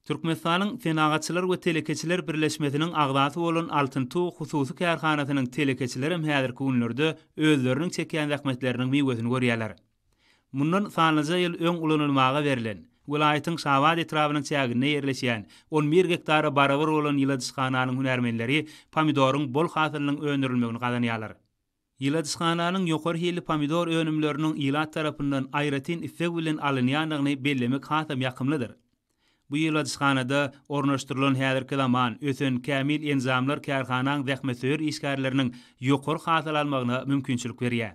Türkmenistanyň Senagatçylar we telekeçiler birleşmesiniň agzasy bolan Altyn tug hususy kärhanasynyň telekeçilerem häzirki günlerde özleriniň çekýän zähmetleriniň miwesini görýärler. Mundan sanlyja ýyl öň ulanylmaga berlen, welaýatyň Şabat etrabynyň çäginde ýerleşýän on bir gektara barabar bolan ýyladyşhananyň hünärmenleri pomidoryň bol hasylynyň öndürilmegini gazanýarlar. Ýyladyşhananyň ýokary hilli pomidor önümleriniň ilat tarapyndan aýratyn isleg bilen alynýandygyny bellemek hasam ýakymlydyr. Bu ýyladyşhanada ornaşdyrylan häzirki zaman, ösen, kämil enjamlar kärhanaň zähmetsöýer işgärleriniň ýokary hasyl almagyna mümkinçilik berýär.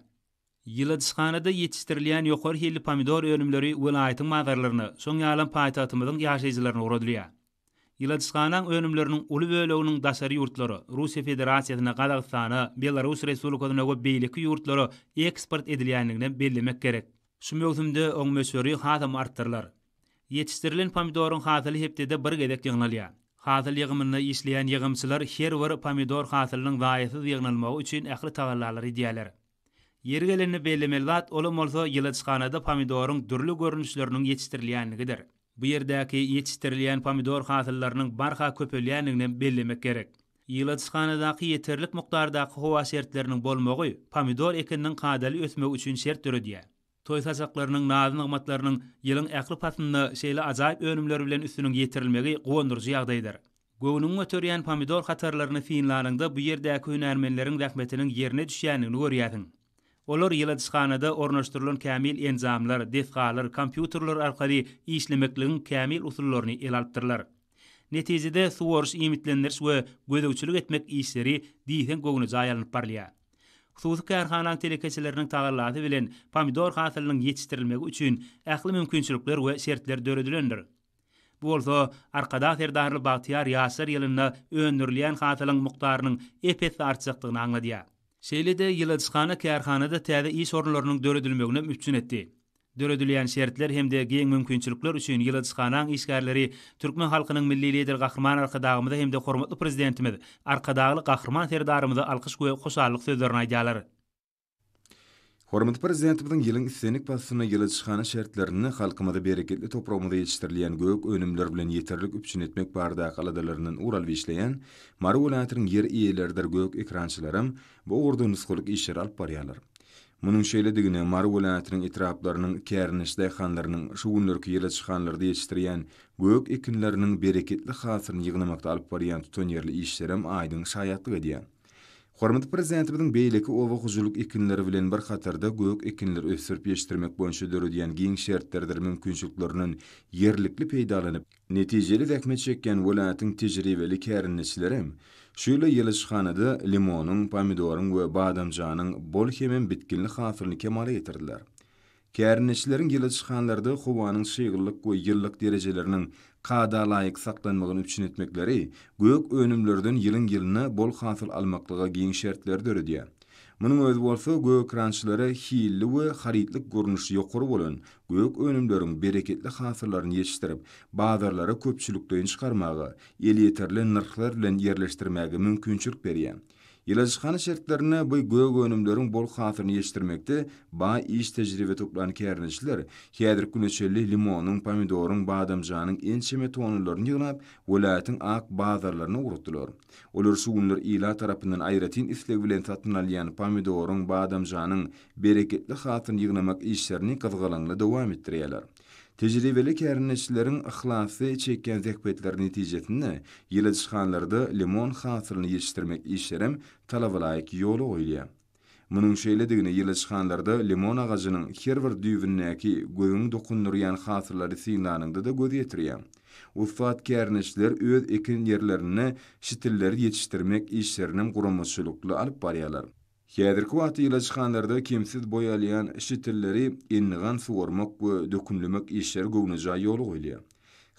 Ýyladyşhanada ýetişdirilýän ýokary hilli pomidor önümleri welaýatyň bazarlaryna, şoň ýalam paýtagtymyzyň ýaşaýjylaryna ugradylýar. Ilaçhanaň önümleriniň uly böleginiň daşary ýurtlara, Russiýa Federasiýasyna, Gazagystana, Belarus Respublikasyna we beýleki ýurtlara eksport edilýändigini hem bellemek gerek. Şu möwsümde oň möçberi hasam artdyrylar. Ýetişdirilen pomidoryň hasyly hepdede bir gezek ýygnalýar. Hasyl ýygymynda işleýän ýygymçylar her bir pomidor hasylynyň zaýasyz ýygnalmagy üçin ähli tagallalary edýärler. Ýeri gelende bellemeli zat, olam bolsa ýyladyşhanada pomidoryň dürli görnüşleriniň ýetişdirilýänligidir. Bu ýerdäki ýetişdirilýän pomidor hasyllarynyň barha köpelýänliginem bellemek gerek. Ýyladyşhanadaky ýeterlik mukdardaky howa şertleriniň bolmagy pomidor ekininiň kadaly ösmegi üçin şert döredýär. Toý sajaklarynyň, naz-nygmatlarynyň ýylyň ähli paslynda şeýle ajaýyp önümler bilen üstüniň ýetirilmegi guwandyryjy ýagdaýdyr. Göwnüňi göterýän pomidor hatarlaryny synlanyňda bu ýerdäki hünärmenleriň zähmetiniň ýerine düşýändigini görýärsiň. Olar ýyladyşhanada ornaşdyrylan kämil enjamlar, desgalar, kompýuterler arkaly işlemekligiň kämil usullaryny ele alypdyrlar. Netijede, suwaryş-iýmitlendiriş we gözegçilik etmek işleri diýseň göwnejaý alnyp barylýar. Hususy kärhanaň telekeçileriniň tagallasy bilen pomidor hasylynyň ýetişdirilmegi üçin ähli mümkinçilikler we şertler döredilendir. Bu bolsa Arkadag Serdarly bagtyýar ýaşlar ýylynda öndürilýän hasylyň mukdarynyň ep-esli artjakdygyny aňladýar. Şeýle-de ýyladyşhana kärhanada täze iş orunlarynyň döredilmeginem üpjün etdi. Döredilýän şertler hem-de giň mümkinçilikler üçin ýyladyşhanaň işgärleri türkmen halkynyň Milli Lideri Gahryman Arkadagymyza hem-de hormatly Prezidentimiz Arkadagly Gahryman Serdarymyza alkyş we hoşallyk sözlerini aýdýarlar. Hormatly Prezidentimiziň ýylyň islendik paslynda ýyladyşhana şertlerinde halkymyzy bereketli topragymyzda ýetişdirilýän gök önümler bilen ýeterlik üpjün etmek baradaky aladalaryndan ugur alyp işleýän Mary welaýatynyň ýer eýeleridir gök ekrançylaram bu ugurda nusgalyk işleri alyp barýarlar. Munuň şeýledigine Mary welaýatynyň etraplarynyň kärndeş daýhanlarynyň şu günlerki ýyla çykanlarda ýetişdirýän gök ekinleriniň bereketli hasylyny ýygnamakda alyp barýan tutanýerli işlerem aýdyň şaýatlyk edýär. Hormatly Prezidentimiziň beýleki oba hojalyk ekinleri bilen bir hatarda gök ekinleri ösdürip ýetişdirmek boýunça döredýän giň şertleridir mümkinçiliklerinden ýerlikli peýdalanyp, Netijeli zähmet çekýän welaýatyň tejribeli kärendeçileri şeýle ýylyşhanada limonyň, pomidoryň we badamjanyň bol hemem bitginli hasylyny kemala getirdiler. Kärendeçileriň ýylyşhanlarda howanyň çyglylyk we ýylylyk derejeleriniň kadalaýyk saklanmagyny üpjün etmekleri gök önümlerden ýylyň-ýylyna bol hasyl almaklyga giň şertleri döredýär. Munuň özi bolsa gökrançylara hilli we harytlyk görnüşi ýokary bolan gök önümleriň bereketli hasyllaryny ýetişdirip, bazarlara köpçülikleýin çykarmaga, elýeterli nyrhlar bilen ýerleşdirmäge mümkinçilik berýär. Ýyladyşhana şertlerinde bu gök önümleriň bol hasylyny ýetişdirmekde baý iş-tejribe toplan kärendeçiler häzirki güne çenli limonyň, pomidoryň, badamjanyň ençeme tonnalaryny ýygnap, welaýatyň ak bazarlaryna ugratdylar. Olar şu günler ilat tarapyndan aýratyn isleg bilen satyn alýan pomidoryň, badamjanyň bereketli hasylyny ýygnamak işlerini gyzgalaňly dowam etdirýärler. Tejribeli kärendeçileriň yhlasly çekýän zähmetleri netijesinde ýyladyşhanlarda limon hasylyny ýetişdirmek işlerem talabalaýyk ýola goýulýar. Munuň şeýledigini ýylyçhanlarda limon agajynyň her bir düýbündäki gözüňi dokundyrýan hasyllary synlanyňda-da göz ýetirýäň. Ussat kärndeşler öz eken ýerlerinde şitilleri ýetişdirmek işlerinem guramaçylykly alyp barýarlar. Häzirki wagtda ýylyçhanlarda kemsiz boý alýan şitilleri endigan suwarmak we dökünlemek işleri göwnejaý ýola goýulýar.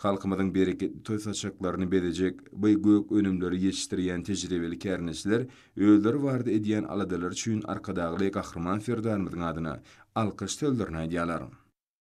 Halkymyzyň bereketli toý saçaklaryny bezejek bu gök önümleri ýetişdirýän tejribeli kärndeçiler özleri barada edýän aladalary üçin Arkadagly Gahryman Serdarymyzyň adyna alkyş sözlerini aýdýarlar.